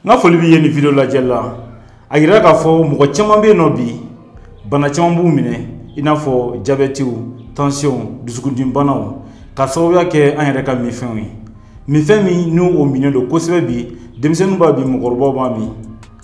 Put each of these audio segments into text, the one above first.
n ka foli b'e ye nin video lajɛlila a yirala k'a fɔ mɔgɔ caman bɛ yen nɔ bi bana caman b'u minɛ i n'a fɔ jabɛtiw tansiyɔnw dusukundimibanaw ka sababuya kɛ an yɛrɛ ka minfɛnw ye minfɛn min ni o minnen don kosɛbɛ bi denmisɛnninw b'a min mɔgɔkɔrɔbaw b'a min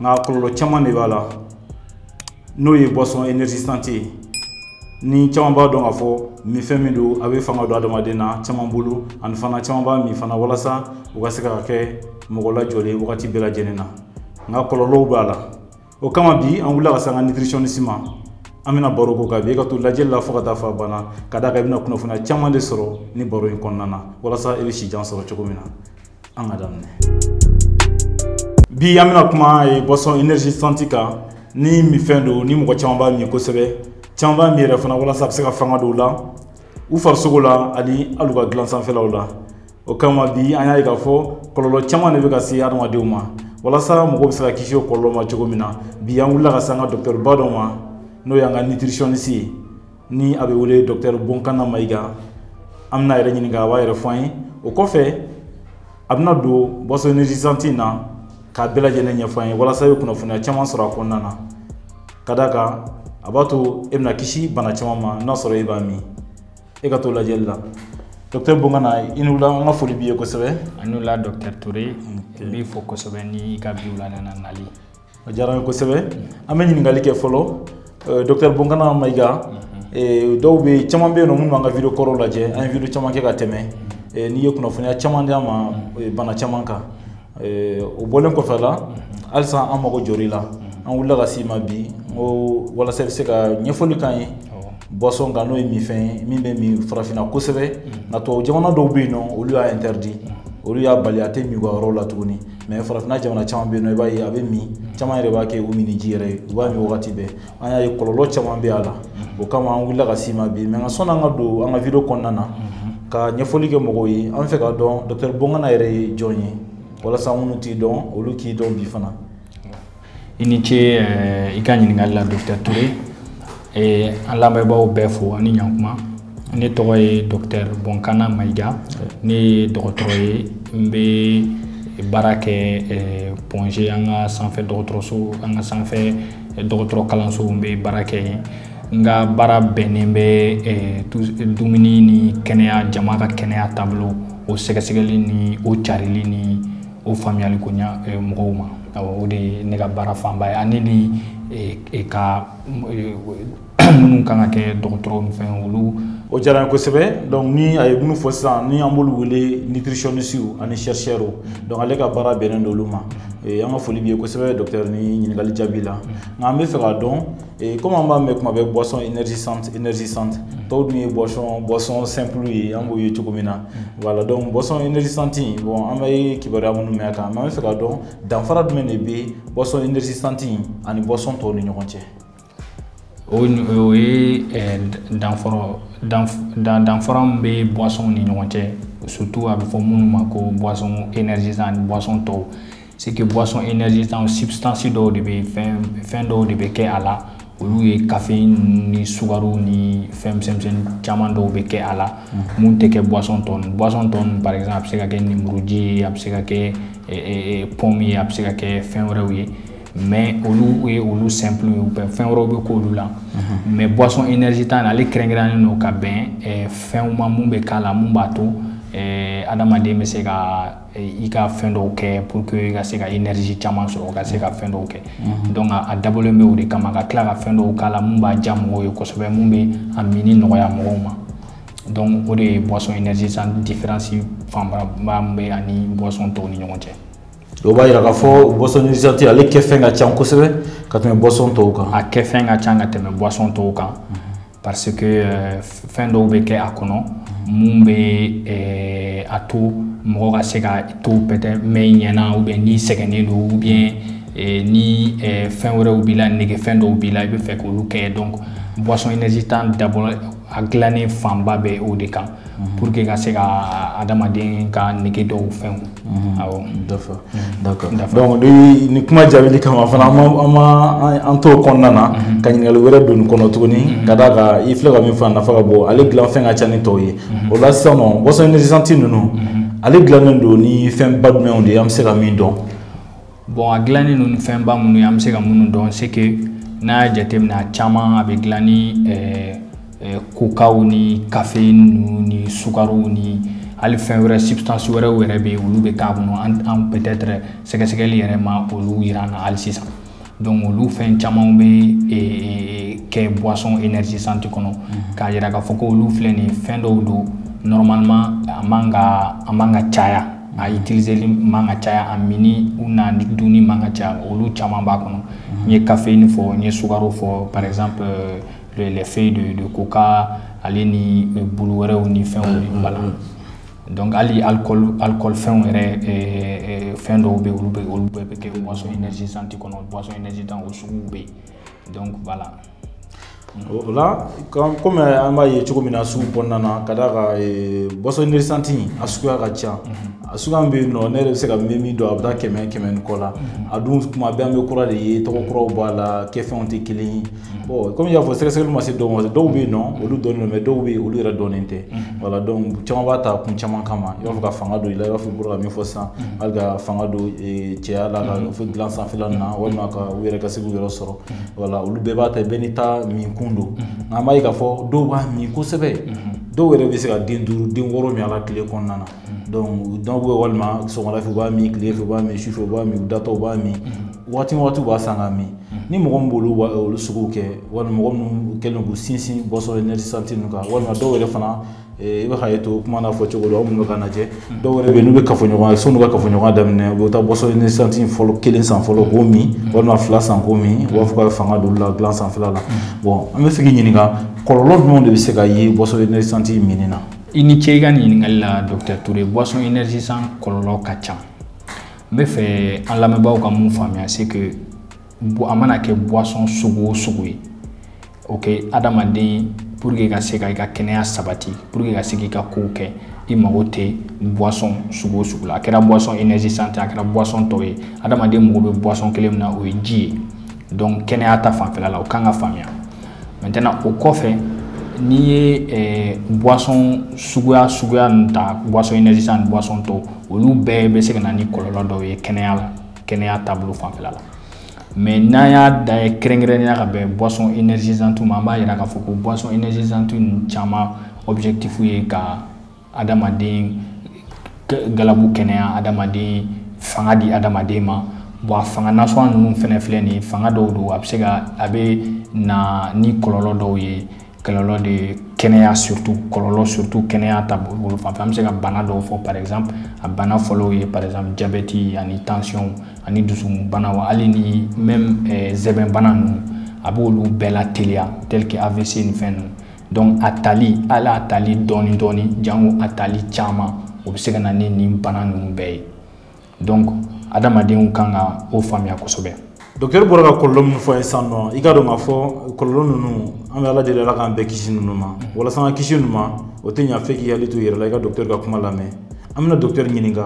nka kɔlɔlɔ caman de b'a la n'o ye boisson énergisante ye ni caman b'a dɔn k'a fɔ minfɛn min don a bɛ fanga don adamaden na caman bolo ani fana caman b'a min fana walasa u ka se ka kɛ mɔgɔ lajɔlen wagati bɛɛ lajɛlen na nka kɔlɔlɔw b'a la o kama bi an wulila ka se an ka nutritionniste ma an bɛna baro k'o kan bi e ka to lajɛli la fo ka taa fɔ a banna ka d'a kan i bɛna kunnafoniya caman de sɔrɔ nin baro in kɔnɔna na walasa i bɛ si jan sɔrɔ cogo min na an ka daminɛ bi an bɛna kuma aw ye boisson énergisante kan ni minfɛn don ni mɔgɔ caman b'a min kosɛbɛ caman b'a min yɛrɛ fana walasa a bɛ se ka fanga don u la u farisogo la ani hali u ka dilan sanfɛlaw la o kama bi an y'a ye k'a fɔ kɔlɔlɔ caman de bɛ ka se adamadenw ma walasa mɔgɔw bɛ se ka kisi o kɔlɔlɔ ma cogo min na bi an wulila ka se an ka dɔkitɛriba dɔ ma n'o y'an ka nutritionniste ye ni a bɛ wele dɔkitɛri bonkana mayiga an bɛna a yɛrɛ ɲininka a b'a yɛrɛ fɔ an ye o kɔfɛ a bɛna don boisson énergisante in na k'a bɛɛ lajɛlen ɲɛfɔ an ye walasa i bɛ kunnafoniya caman sɔrɔ a kɔnɔna na ka d'a kan a b'a to e bɛna kisi bana caman ma n'a sɔrɔ e b'a min e ka to lajɛli la dɔkitɛri bonkana i ni wula an ka foli b'i ye kosɛbɛ a ni wula dɔkitɛri ture n b'i fo kosɛbɛ ni i ka bi wula nana nali o diyara n ye kosɛbɛ an bɛ ɲininkali kɛ fɔlɔ euh, docteur bonkana mayiga mhm. euh, dɔw bɛ yen caman bɛ yen nɔ minnu b'an ka video kɔrɔw lajɛ an ye video caman kɛ ka tɛmɛ mhm. euh, n'i ye kunnafoniya caman di an ma mhm. bana caman kan o bɔlen kɔfɛla halisa an mago jɔra i la an wulila ka s'i ma bi n ko walasa i bɛ se ka ɲɛfɔli k'an ye boisson kan n'o ye minfɛn ye min bɛ min farafinna kosɛbɛ nka tubabu jamana dɔw bɛ yen nɔ olu y'a interdit olu y'a bali a tɛ min u ka yɔrɔw la tuguni mɛ farafinna jamana caman bɛ yen nɔ i b'a ye a bɛ min caman yɛrɛ b'a kɛ u minniji yɛrɛ ye u b'a min wagati bɛɛ an y'a ye kɔlɔlɔ caman bɛ a la o kama an wulila ka s'i ma bi mɛ nka sɔnni an ka don an ka video kɔnɔna na ka ɲɛfɔli kɛ mɔgɔw ye an fɛ k'a dɔn dɔkitɛri bonkana yɛrɛ ye jɔn ye walasa minnu t'i dɔn olu k'i dɔn bi fana i ni ce eh, i ka ɲininkali la dɔktɛr ture eh, an lamɛnbaaw bɛɛ fo ani ɲankuma ne tɔgɔ ye dɔktɛr bonkana mayiga ne ye dɔgɔtɔrɔ ye n bɛ baara kɛ eh, point g an ka sanfɛ dɔgɔtɔrɔso an ka sanfɛ dɔgɔtɔrɔ kalanso n bɛ baara kɛ yen n ka baara bɛnnen bɛ dumuni ni kɛnɛya jama ka kɛnɛya taabolo o sɛgɛsɛgɛli ni o carili ni o faamuyali nɔgɔya mɔgɔw ma o de ye ne ka baara fanba ye ani ni ka minnu kan ka kɛ dɔgɔtɔrɔ fɛn olu o diyara n ye kosɛbɛ donc ni a ye minnu fɔ sisan ni an b'olu wele nutritionnistes ani chercheurs donc ale ka baara bɛnnen don olu ma an ka foli b'i ye kosɛbɛ docteur nin ɲininkali jaabi la nka an bɛ fɛ k'a dɔn Et comme an b'a mɛn kuma bɛ boisson énergisante énergisante mm. tɔw dun ye boisson boisson simple ye an b'o ye cogo min na mm. voilà donc boisson énergisante in bon an bɛ kibaruya minnu mɛn a kan mais an bɛ fɛ k'a dɔn danfara jumɛn de bɛ boisson énergisante in ani boisson tɔw ni ɲɔgɔn cɛ o o ye eh, danfara danfara min bɛ boisson ni ɲɔgɔn cɛ surtout a bɛ fɔ minnu ma ko boisson énergisante boisson tɔw c'est que boisson énergisante substance dɔw de bɛ fɛn fɛn dɔw de bɛ kɛ a la olu ye caféine ni sukaro ni fɛn misɛnmisɛnnin caman dɔw bɛ kɛ a la mun tɛ kɛ boisson tɔ ninnu boisson tɔ ninnu par exemple a bɛ se ka kɛ lemuruji ye a bɛ se ka kɛ pomme ye a bɛ se ka kɛ fɛn wɛrɛw ye mais olu ye olu simple ye u bɛ fɛn wɛrɛw bɛ k'olu la mais boisson énergisante ale kɛrɛnkɛrɛnnen don ka bɛn fɛnw ma mun bɛ k'a la mun b'a to adamaden bɛ se ka i ka fɛn dɔw kɛ pour que i ka se ka énergie caman sɔrɔ ka se ka fɛn dɔw kɛ mhm. donc a dabɔlen bɛ o de kama ka tila ka fɛn dɔw k'a la mun b'a diya mɔgɔw ye kosɛbɛ mun bɛ a mini nɔgɔya mɔgɔw ma donc o de ye boisson énergisante différence fanba min bɛ ani boisson tɔw ni ɲɔgɔn cɛ o b'a yira k'a fɔ boisson énergisante ale kɛfɛn ka ca kosɛbɛ ka tɛmɛ boisson tɔw kan a kɛfɛn ka ca ka tɛmɛ boisson tɔw kan mhm. parce que euh, fɛn dɔw bɛ kɛ a kɔnɔ mun bɛ euh, a to mɔgɔ ka se ka to peut-être mɛn i ɲɛna ou bien n'i sɛgɛnnen don ou bien euh, ni fɛn wɛrɛw b'i la nege fɛn dɔw b'i la i bɛ fɛ k'olu kɛ donc boisson énergisante dabɔ a dilannen fanba bɛ o de kan Mhm. pour que ka se ka adamaden ka nege dɔw fɛnw mhm. awɔ d'accord mhm. d'accord donc ni ni kuma jaabili kama fana a ma an to kɔnɔna na ka ɲininkali wɛrɛ don nin kɔnɔ tuguni ka d'a kan i filɛ ka min fɔ a nafa ka bon ale dilan fɛn ka ca ni tɔw ye o la sisan nɔ boisson énergisante ninnu ale dilannen don ni fɛn ba jumɛnw de ye an bɛ se ka min dɔn bon a gilannen don ni fɛnba minnu ye an bɛ se ka minnu dɔn c'est que n'a y'a jateminɛ a caman a bɛ gilan ni kokaw ni caféine ni sukaro ni hali fɛn wɛrɛ substance wɛrɛw yɛrɛ bɛ yen olu bɛ k'a kɔnɔ an peut-être sɛgɛsɛgɛli yɛrɛ ma olu yira an na hali sisan donc olu fɛn caman bɛ kɛ boisson énergisante kɔnɔ k'a yira k'a fɔ ko olu filɛ nin ye fɛn dɔw don normalement a man ka a man ka caya a ye telieli man ka caya a mini u na ni dunni man ka caya olu caman b'a kɔnɔ n ye kafe in fɔ n ye sukaro fɔ paz lɛfɛ de don ko ka ale ni bolo wɛrɛw ni fɛnw bala dɔnku hali alikɔlifɛnw yɛrɛ fɛn dɔw bɛ olu bɛ olu bɛɛ bɛ kɛ wasɔn nɛgɛgesi santi kɔnɔ wasɔn nɛgɛgesi tan o sugu bɛ yen dɔnku bala la o la kɔmi an b'a ye cogo min na sugu kɔnɔna na ka d'a kan boisson énergisante a suguya ka ca a sugu bɛ yen nɔ ne yɛrɛ bɛ se ka min min dɔn a bɛ taa kɛmɛ kɛmɛ ni kɔ la a dun tuma bɛɛ an bɛ kura de ye tɔgɔ kuraw b'a la kɛfɛnw tɛ kelen kɔmi i y'a fɔ sɛgɛsɛgɛli ma se dɔw ma dɔw bɛ yen nɔ olu dɔnnen don mais dɔw bɛ yen olu yɛrɛ dɔnnen tɛ voilà donc caman b'a ta kun caman kama i b'a fɔ ka fanga don i la i b'a fɔ i bɔra ka min fɔ sisan hali ka fanga don cɛya la k'a fɔ dilan sanfɛla ninnu na walima ka u yɛrɛ ka se k'u yɛrɛ sɔrɔ voilà olu bɛɛ b'a ta bɛɛ n'i ta min kun don nka an b'a ye k'a fɔ dɔw b'a min kosɛbɛ dɔw yɛrɛ bɛ se ka den duuru den wɔɔrɔ min a la tile kɔnɔna na donc dɔw bɛ walima sɔgɔmada fɛ u b'a min tile fɛ u b'a min sufɛ u b'a min u datɔ u b'a min waati waati u b'a san k'a min ni mɔgɔ min b'olu olu sugu kɛ walima mɔgɔ minnu kɛlen k'u sinsin boisson énergisante ninnu kan walima dɔw yɛrɛ fana I bɛ hakɛ to kuma fɔ cogo la minnu bɛ ka lajɛ dɔw bɛ yen n'u bɛ kafoɲɔgɔnya sanni u ka kafoɲɔgɔnya daminɛ u bɛ taa boisson énergisante fɔlɔ kelen san fɔlɔ k'o min walima fila san k'o min u b'a fɔ ka fanga don u la dilan sanfɛla la bon an b'a fɛ k'i ɲininka kɔlɔlɔ jumɛn de bɛ se ka ye boisson énergisante minni na i ni ce i ka ɲininkali la Dr Toure boisson énergisante kɔlɔlɔ ka ca n b'a fɛ an lamɛnbaaw ka min faamuya c'est que a mana kɛ boisson sugu o sugu ye ok adamaden pour que ka se ka i ka kɛnɛya sabati pour que ka se k'i ka kow kɛ i mago tɛ boisson sugu o sugu la a kɛra boisson énergisante a kɛra boisson tɔw ye adamaden mago bɛ boisson kelen min na o ye ji ye donc kɛnɛya ta fanfɛla la o kan ka faamuya maintenant o kɔfɛ n'i ye eh, boisson suguya suguya ninnu ta boisson énergisante ni boisson tɔw olu bɛɛ bɛ se ka na ni kɔlɔlɔ dɔw ye kɛnɛya la kɛnɛya taabolo fanfɛla la mais n'an y'a da ye kɛrɛnkɛrɛnnenya ka bɛn boisson énergisante ma an b'a yira k'a fɔ ko boisson énergisante ninnu caman objectif ye ka adamaden galabu kɛnɛya adamaden fanga di adamaden ma bon a fanga nasɔn ninnu fɛnɛ filɛ nin ye fanga dɔw don a bɛ se ka a bɛ na ni kɔlɔlɔ dɔw ye kɔlɔlɔ de kɛnɛya surtout kɔlɔlɔ surtout kɛnɛya taabolo fan fɛ an bɛ se ka bana dɔw fɔ par exemple a bana fɔlɔw ye par exemple jabɛti ani tension ani dusukun banaw hali ni même eh, sɛmɛ bana ninnu a b'olu bɛɛ lateliya tel que avc ni fɛn ninnu donc a tali hali a tali dɔɔni dɔɔni jango a tali caman o bɛ se ka na ni nin bana ninnu bɛɛ ye donc adamadenw kan ka o faamuya kosɛbɛ dɔktɛri bɔra ka kɔlɔlɔ minnu fɔ an ye sisan nɔ i k'a dɔn k'a fɔ kɔlɔlɔ ninnu an bɛ ala deli ala k'an bɛɛ kisi ninnu ma walasa an ka kisi ninnu ma o tɛ ɲa fo k'i hakili to i yɛrɛ la i ka dɔktɛri ka kuma lamɛn an bɛna dɔktɛri ɲininka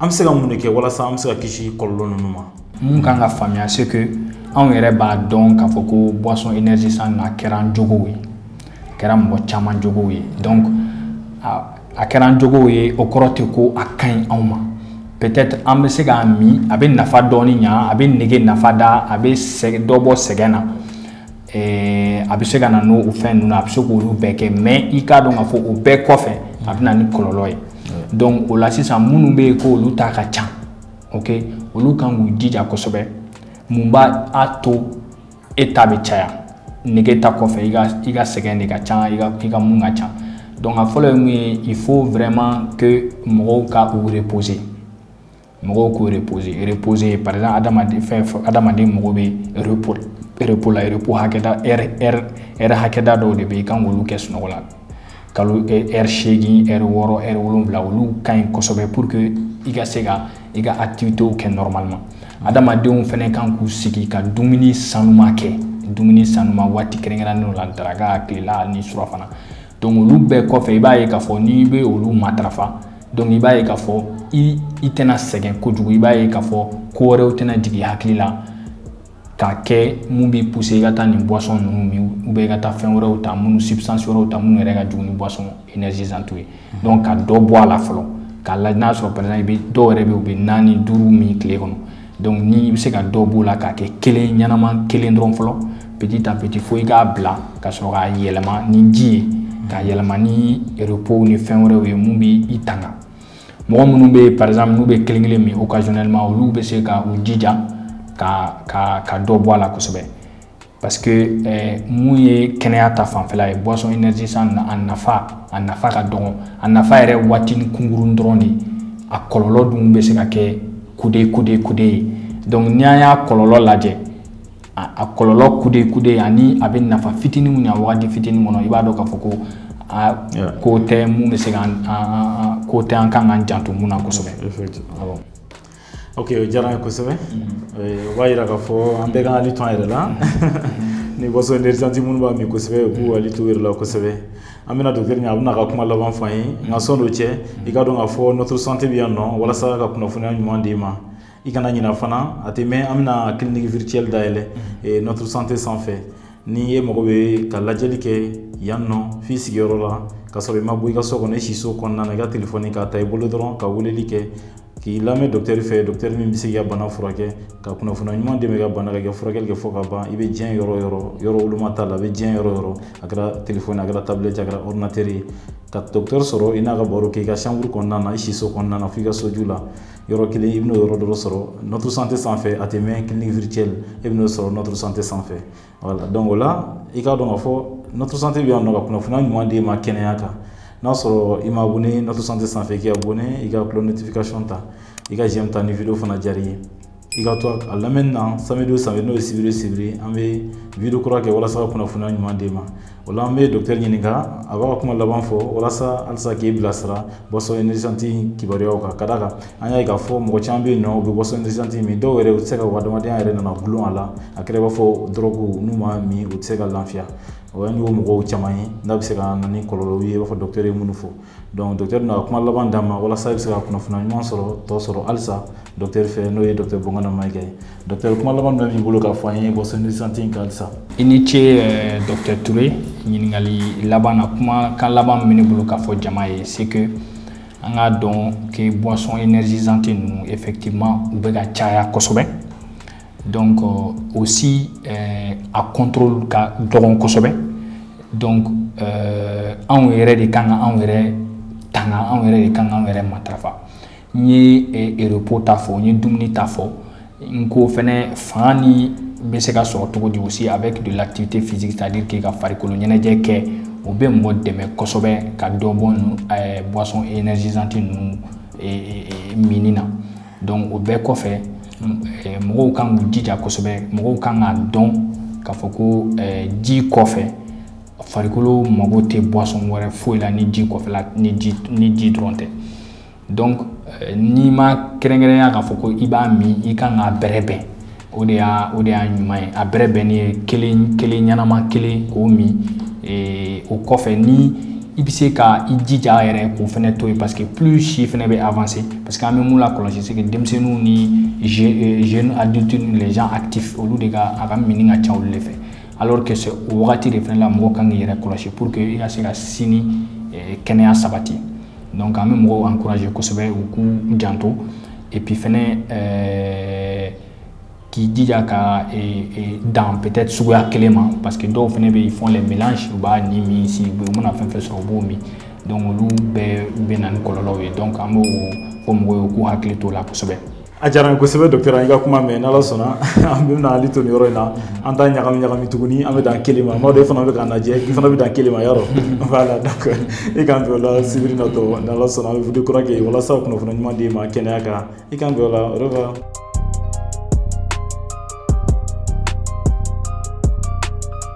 an bɛ se ka mun de kɛ walasa an bɛ se ka kisi kɔlɔlɔ ninnu ma mun kan ka faamuya c'est que anw yɛrɛ b'a dɔn k'a fɔ ko boisson énergisante a kɛra an jogow ye a kɛra mɔgɔ caman jogow ye donc a kɛra an jogow ye o kɔrɔ tɛ ko a ka ɲi anw ma peut-être an bɛ se k'a min a bɛ nafa dɔɔni ɲa a bɛ nege nafa da a bɛ sɛgɛn dɔ bɔ sɛgɛn na ɛɛ a bɛ se ka na n'o fɛn ninnu a bɛ se k'olu bɛɛ kɛ mais i k'a dɔn k'a fɔ o bɛɛ kɔfɛ a bɛ na ni kɔlɔlɔ ye donc o la sisan minnu bɛ yen ko olu ta ka ca ok olu kan k'u jija kosɛbɛ mun b'a to e ta bɛ caya nege ta kɔfɛ i ka i ka sɛgɛn de ka ca i ka i ka mun ka ca donc a fɔlɔ ye mun ye il faut vraiment que mɔgɔw ka u reposer mɔgɔw k'u reposer reposer par exemple adamaden fɛn adamaden mago bɛ repos repos la repos hakɛda heure heure heure hakɛda dɔw de bɛ yen i kan k'olu kɛ sunɔgɔ la kalo heure seegin heure wɔɔrɔ heure wolonwula olu ka ɲi kosɛbɛ pour que i ka se ka i ka activités kɛ normalement adamadenw fɛnɛ kan k'u sigi ka dumuni sanuma kɛ dumuni sanuma waati kɛrɛnkɛrɛnnenw la daraka tilela ni surafana donc olu bɛɛ kɔfɛ i b'a ye k'a fɔ n'i bɛ olu matarafa donc i b'a ye k'a fɔ i i tɛna sɛgɛn kojugu i b'a ye k'a fɔ ko wɛrɛw tɛna jigin hakili la k'a kɛ mun b'i pousser i ka taa nin boisson ninnu min ou bien i ka taa fɛn wɛrɛw ta minnu substance wɛrɛw ta minnu yɛrɛ ka jugu ni boisson énergisante ye donc ka dɔ bɔ a la fɔlɔ k'a lajɛ n'a sɔrɔ par exemple i bɛ dɔw yɛrɛ bɛ yen u bɛ naani duuru min tile kɔnɔ donc ni i bɛ se ka dɔ b'o la k'a kɛ kelen ɲɛnama kelen dɔrɔn fɔlɔ petit à petit fo i k'a bila ka sɔrɔ k'a yɛlɛma ni ji ye k'a yɛlɛma ni repos ni fɛn wɛrɛw ye mun b'i i tanga mɔgɔ minnu bɛ yen par exemple n'u bɛ kelen kelen min occasionnellement olu bɛ se ka u jija ka ka ka dɔ bɔ a la kosɛbɛ parce que eh, mun ye kɛnɛya ta fanfɛla ye boisson énergisante a nafa a nafa ka dɔgɔ a nafa yɛrɛ waatini kunkurun dɔrɔn de a kɔlɔlɔ dun bɛ se ka kɛ kude kude kude ye donc ni an y'a kɔlɔlɔ lajɛ a kɔlɔlɔ kude kude ani a bɛ nafa fitinin mun ɲa waati fitinin kɔnɔ i b'a dɔn k'a fɔ ko a côté mun bɛ se ka côté an kan k'an janto mun na kosɛbɛ ok o diyara n ye kosɛbɛ mm-hmm. o b'a yira k'a fɔ an bɛɛ k'an hakili to an yɛrɛ la mm-hmm. ni boisson énergisante minnu b'a min kosɛbɛ u k'u hakili to u yɛrɛ la kosɛbɛ an bɛna dɔkitɛri ɲɛ a bɛna a ka kuma laban fɔ an ye nka sann'o cɛ i k'a dɔn k'a fɔ notre santé bɛ yan nɔ walasa ka kunnafoniya ɲuman d'i ma i kana ɲina fana a tɛ mɛɛn an bɛna clinique virtuelle dayɛlɛ mhm. notre santé sanfɛ ni e mago bɛ ka lajɛli kɛ yan nɔ f'i sigiyɔrɔ la ka sɔrɔ i ma bɔ i ka so kɔnɔ i siso kɔnɔna na i ka telefɔni k'a ta i bolo dɔrɔn ka weleli kɛ k'i lamɛn docteur fɛ docteur min bɛ se k'i ka bana furakɛ ka kunnafoniya ɲuman d'e ma i ka bana kan ka furakɛli kɛ fɔ ka ban i bɛ diɲɛ yɔrɔ yɔrɔ yɔrɔ woloma t'a la a bɛ diɲɛ yɔrɔ yɔrɔ a kɛra telefɔni a kɛra tablette a kɛra ordinateur ye ka docteur sɔrɔ i n'a ka baro kɛ i ka chambre kɔnɔna na i siso kɔnɔna na fo i ka soju la yɔrɔ kelen i bɛn'o yɔrɔ dɔ sɔrɔ notre santé sanfɛ a tɛ mɛɛn clinique virtuelle e bɛn'o sɔrɔ notre santé sanfɛ voilà donc o la i k'a dɔn k'a fɔ notre santé bɛ yan nɔ ka kunnafoniya ɲuman d'e ma kɛnɛya kan n'a sɔrɔ i ma abonné notre santé sanfɛ i k'i abonné i ka cloche notification ta i ka j'aime ta ni vidéo fana diyara i ye i ka to a lamɛnni na samedi o samedi n'o ye sibiri sibiri an bɛ vidéo kura kɛ walasa ka kunnafoniya ɲuman d'e ma o la an bɛ docteur ɲininka a b'a ka kuma laban fɔ walasa halisa k'i bilasira boisson énergisante kibaruyaw kan ka d'a kan an y'a ye k'a fɔ mɔgɔ caman bɛ yen nɔ u bɛ boisson énergisante min dɔw yɛrɛ u tɛ se ka u ka adamadenya yɛrɛ nana dulon a la a kɛra i b'a fɔ dɔrɔgu n'u m'a min u tɛ se ka lafiya o y'an y'o mɔgɔw caman ye n'a bɛ se ka na ni kɔlɔlɔw ye i b'a fɔ docteur ye minnu fɔ donc docteur na kuma laban d'a ma walasa i bɛ se ka kunnafoniya ɲuman sɔrɔ tɔ sɔrɔ halisa docteur fɛ n'o ye docteur boncana maïga ye docteur kuma laban jumɛn b'i bolo k'a fɔ an ye boisson énergisante kan halisa i ni ce euh, docteur touré ɲininkali laban na kumakan laban min bɛ ne bolo k'a fɔ jama ye c'est que an k'a dɔn que boisson énergisante ninnu effectivement u bɛ ka caya kosɛbɛ donc euh, aussi euh, a contrôle ka dɔgɔn kosɛbɛ donc euh, anw yɛrɛ de kan ka anw yɛrɛ tanga anw yɛrɛ de kan ka anw yɛrɛ matarafa n ye eh, repos ta fɔ n ye dumuni ta fɔ n ko fɛnɛ fanga ni bɛ se ka sɔrɔ cogo di aussi avec de l'activité physique c'est à dire k'i ka farikolo ɲɛnajɛ kɛ o bɛ mɔgɔ dɛmɛ kosɛbɛ ka dɔ bɔ ninnu eh, boisson énergisante ninnu eh, eh, eh, minni na o bɛɛ kɔfɛ mɔgɔw kan k'u jija kosɛbɛ mɔgɔw kan k'a dɔn k'a fɔ ko ji kɔfɛ farikolo mago tɛ boisson wɛrɛ foyi la ni ji kɔfɛla ni ni ji dɔrɔn tɛ donc n'i ma kɛrɛnkɛrɛnya k'a fɔ ko i b'a min i kan k'a bɛrɛbɛn o de y'a o de y'a ɲuman ye a bɛrɛbɛnni ye kelen kelen ɲɛnama kelen k'o min ee, o kɔfɛ ni i bɛ se ka i jija yɛrɛ k'o fɛnɛ to yen parce que plus si fɛnɛ bɛ avancer parce que an bɛ mun lakɔlɔsi c'est que denmisɛnninw ni euh, jeunes adultes ni les gens actifs olu de ka a ka minni ka ca olu de fɛ alors que c'est o wagati de fɛnɛ la mɔgɔ kan k'i yɛrɛ kɔlɔsi pour que i ka se ka sini euh, kɛnɛya sabati. donc an bɛ mɔgɔw encourager kosɛbɛ u k'u janto et puis fɛnɛ euh, k'i jija ka e, e, dan peut-être suguya kelen ma parce que dɔw fɛnɛ bɛ ils font les mélanges u b'a ni min si u mana fɛn fɛn sɔrɔ u b'o min donc olu bɛɛ bɛ na ni kɔlɔlɔw ye donc an b'o fɔ mɔgɔw ye u k'u hakili t'o la kosɛbɛ a diyara n ye kosɛbɛ docteur an y'i ka kuma mɛn n'ala sɔnna an bɛna hakili to nin yɔrɔ in na an t'a ɲagami ɲagami tuguni an bɛ dan kelen ma mɔgɔ e fana bɛ k'an lajɛ i fana bɛ dan kelen ma yɔrɔ voilà donc i k'an bɛn o la sibiri natɔ n'ala sɔnna an bɛ video kura kɛ walasa kunnafoni ɲuman d'i ma kɛnɛya kan i k'an bɛn o la au revoir